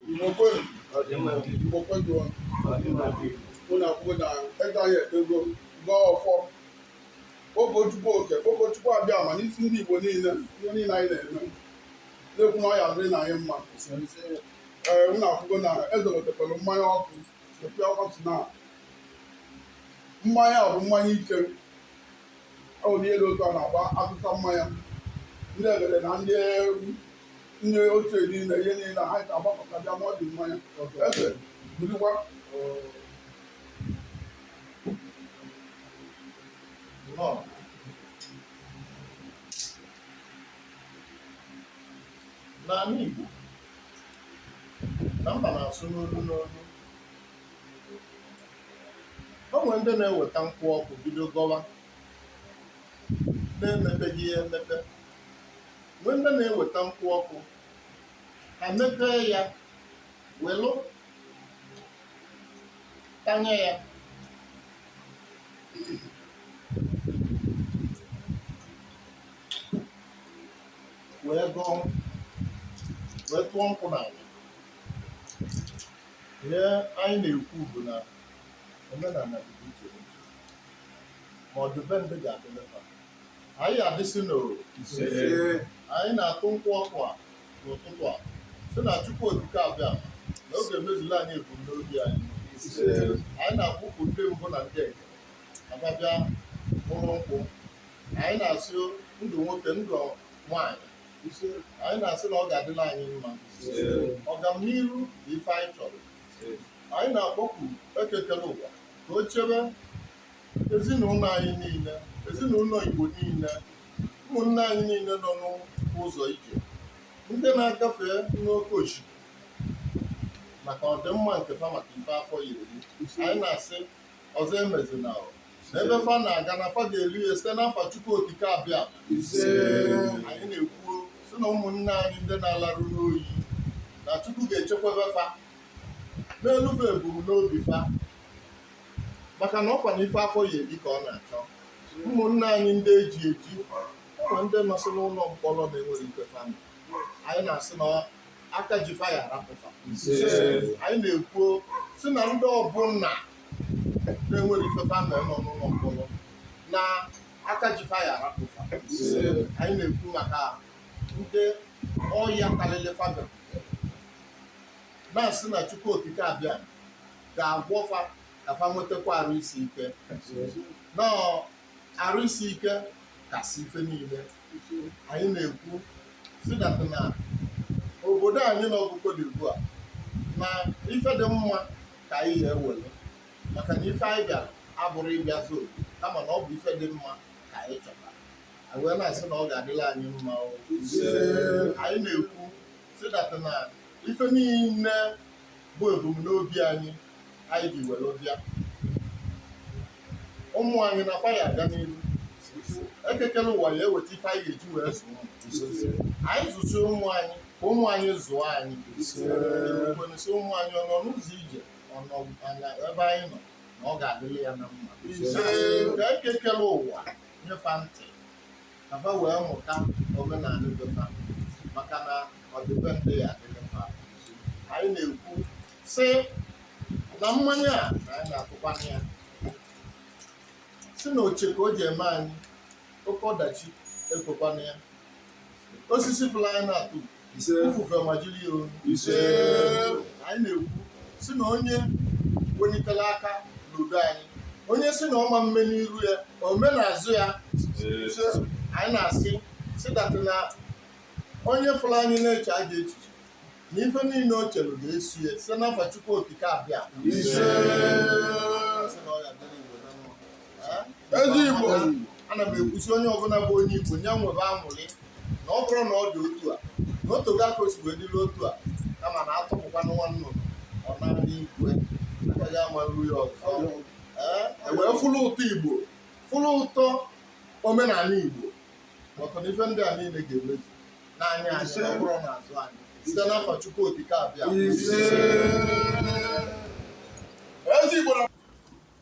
Igbo kwenu, Igbo kwejuo. Unu afụgo na eze anyị ekpego gọọ ọfọ, kpọkuo Chukwu Okike, kpọkuo Chukwu Abịama n'isi ndị Igbo niile, ihe niile anyị na-eme. Na-ekwu na ọ ya-adịrị anyị mma. Ee, unu afụgo na eze wetekwara mmanya ọkụ, ekwe ọkụ si na mmanya a bụ mmanya ike. Ọ bụ ihe dị otu a na-agba atụsa mmanya. Ndị egede na ndị ndị ochie niile ihe niile ha ga-agbakọta bịa ma ọ dị mmanya eze burikwa Lord. n'ala Igbo na mba na-asụ n'olu n'olu o nwere ndị na-eweta nkwụ ọkụ bido gọwa na-emepeghị ya emepe Nwee ndị na-eweta nkwụ ọkụ, ha mepee ya, welụ tanye ya. wee gọọ wee tụọ nkwụ n'ala ihe anyị na-ekwu bụ na omenala dị iche iche ma ọ dị be ndị ga-adịlị fa Anyị adịsị n'oru. Anyị na-atụ nkwụ ọkụ a n'ụtụtụ a sị na Chukwu Okike Abịama ga-emezula anyị ebumnobi anyị. Anyị na-akpọku ndị mbụ na ndị egede bịa ṅụrụ nkwụ. Anyị na-asị ndụ nwoke ndụ nwaanyị. Anyị na-asị na ọ ga-adịla anyị mma. Ọganiru bụ ife anyị chọrọ. Anyị na-akpọku Eke kele ụwa ka o chebe ezinụlọ anyị niile ezinụlọ Igbo niile ụmụnne anyị niile nọ n'ụzọ ije ndị na-agafe n'oke osimiri maka ọdịmma nke fa maka ife afọ ya-eri anyị na-asị ọzọ emezina ebe fa na-aga na fa ga-elu ya site n'afa Chukwu Okike Abịama anyị na-ekwu sị na ụmụnne anyị ndị na-alarụ n'oyi na Chukwu ga-echekwebe fa melu fa ebumnobi fa maka na ọkwa na ife afọ ya-eri ka ọ na-achọ ụmụnne anyị ndị e ji eji ụmụ ndị nọsị n'ụlọ mkpọrọ na-enwerọ ife fa me anyị na-asị na aka ji fa ya-arapụ fa anyị na-ekwu sị na ndị ọbụla na-enwerọ ife fa me nọ n'ụlọ mkpọrọ na aka ji fa ya-arapụ fa anyị na-ekwu maka ndị ọya karịrị fa na-asị na Chukwu Okike abịa ga-agwọ fa ka fa nwetakwa arụ isi ike na arụ isi ike kasị ife niile anyị na-ekwu sị that na obodo anyị nọ bụ Cote d'Ivoire na ife dị mma ka anyị ya-ewere maka na ife anyị bịara abụrọ ịbịa zoo kama na ọ bụ ife dị mma ka anyị chọtara anyị wee na-asị na ọ ga-adịla anyị mma o. anyị na-ekwu sị that na ife niile bụ ebumnobi anyị anyị ji were bịa ụmụ anyị na fa ya-aga n'ihu Eke kere ụwa ya-eweta ife anyị ga-eji wee zụọ anyị zụsịa ụmụ anyị ka ụmụ anyị zụọ anyị kwenesi ụmụ anyị ọ nọ n'ụzọ ije ọ nọ n'ebe anyị nọ na ọ ga-adịrị ya na mma ka Eke kere ụwa nye fa ntị ka fa wee mụta omenala be fa maka na ọdịbendị ya-adịrị fa anyị na-ekwu sị na mmanya a na anyị na-akụkwanye ya si na o che ka o ji eme anyị oke ọdachi ekwekwana ya osisi fụlụ anyị na-atụ ise ifufe majiri ya o. ise anyị na-ekwu sị na onye welitere aka n'udo anyị onye si na ọ ma-eme n'iru ya o mee n'azụ ya ise anyị na-asị sị that na onye fụrụ anyị na-eche ajọ echiche na ife niile o chere ga-eso ya site n'afa Chukwu Okike abịa ise Eze Igbo ana m ekwu sị onye ọbụla bụ onye Igbo ya nwebe aṅụrị na ọ bụrụ na ọ dị otu a na o tego aka o si wee dịrị otu a kama na atụpụkwa nwa nnụnụ ọ na-adị igwe agaghị ama nru ya ọzọ Ee, e wee fụlụ ụtọ Igbo fụlụ ụtọ omenala Igbo na ife ndị a niile ga-emezu n'anya anyị na ọ bụrọ n'azụ anyị site n'afa Chukwu Okike abịa Ise. Eze Igbo na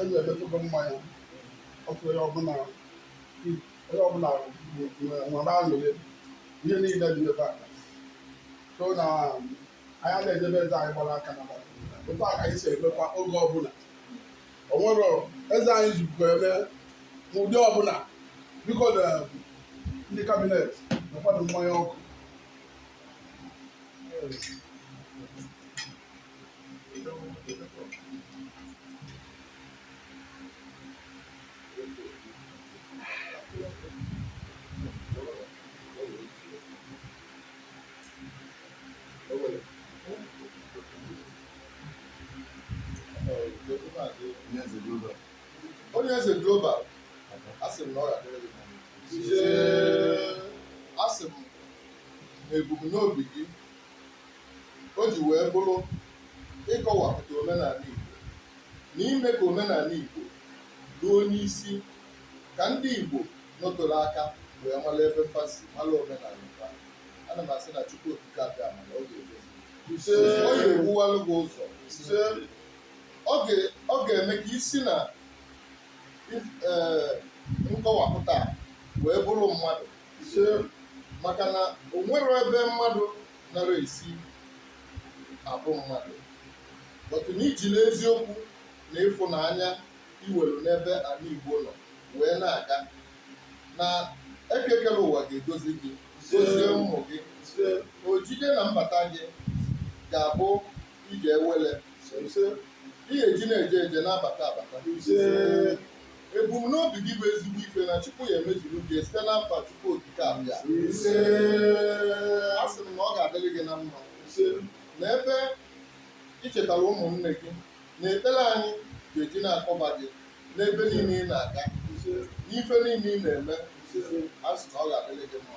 Eze emetụgo mmanya ọnụ onye ọbụla onye ọbụla nwere aṅụrị ihe niile dị ebe a so na anyị a na-edebe eze anyị gbara aka na gbara otu a ka anyị si emekwa oge ọbụla o nwere eze anyị zukọ eme n'ụdị ọbụla biko na ndị cabinet na-akwado mmanya ọkụ Onyeze Global asị m na ọ ga-adịrị gị mma. asị m na ebumnobi gị o ji wee bụrụ ịkọwapụta omenanị Igbo na ime ka omenanị Igbo ruo n'isi ka ndị Igbo nọtoro aka wee mara ebe fa si mara omenanị fa ana m asị na Chukwu Okike Abịama na ọ ga-edozi Ise. ọ ga-ewuwalụ gị ụzọ Ise. ọ ga- ọ ga-eme ka i si na if- eh, nkọwapụta a wee bụrụ mmadụ Ise, maka na o nwere ebe mmadụ nara esi abụ mmadụ otu na i jili eziokwu na ịfụnanya i nwelu n'ebe ana Igbo nọ wee na-aga na Eke kere ụwa ga-edozi gị dozie ụmụ gị Ise, ojije na mbata gị ga-abụ ije awele Ise, ị ga-eji na-eje eje na-abata abata Ise, Ebumnobi gị bụ ezigbo ife na Chukwu ya-emezuru gị site n'afa Chukwu Okike Abịama. Ise. Asị m na ọ ga-adịrị gị na mma. Ise. Na ebe i chetara ụmụnne gị na ekpere anyị ga-eji na-akọba gị n'ebe niile ị na-aga. Ise. N'ife niile ị na-eme. Ise. A sị na ọ ga-adịrị gị mma.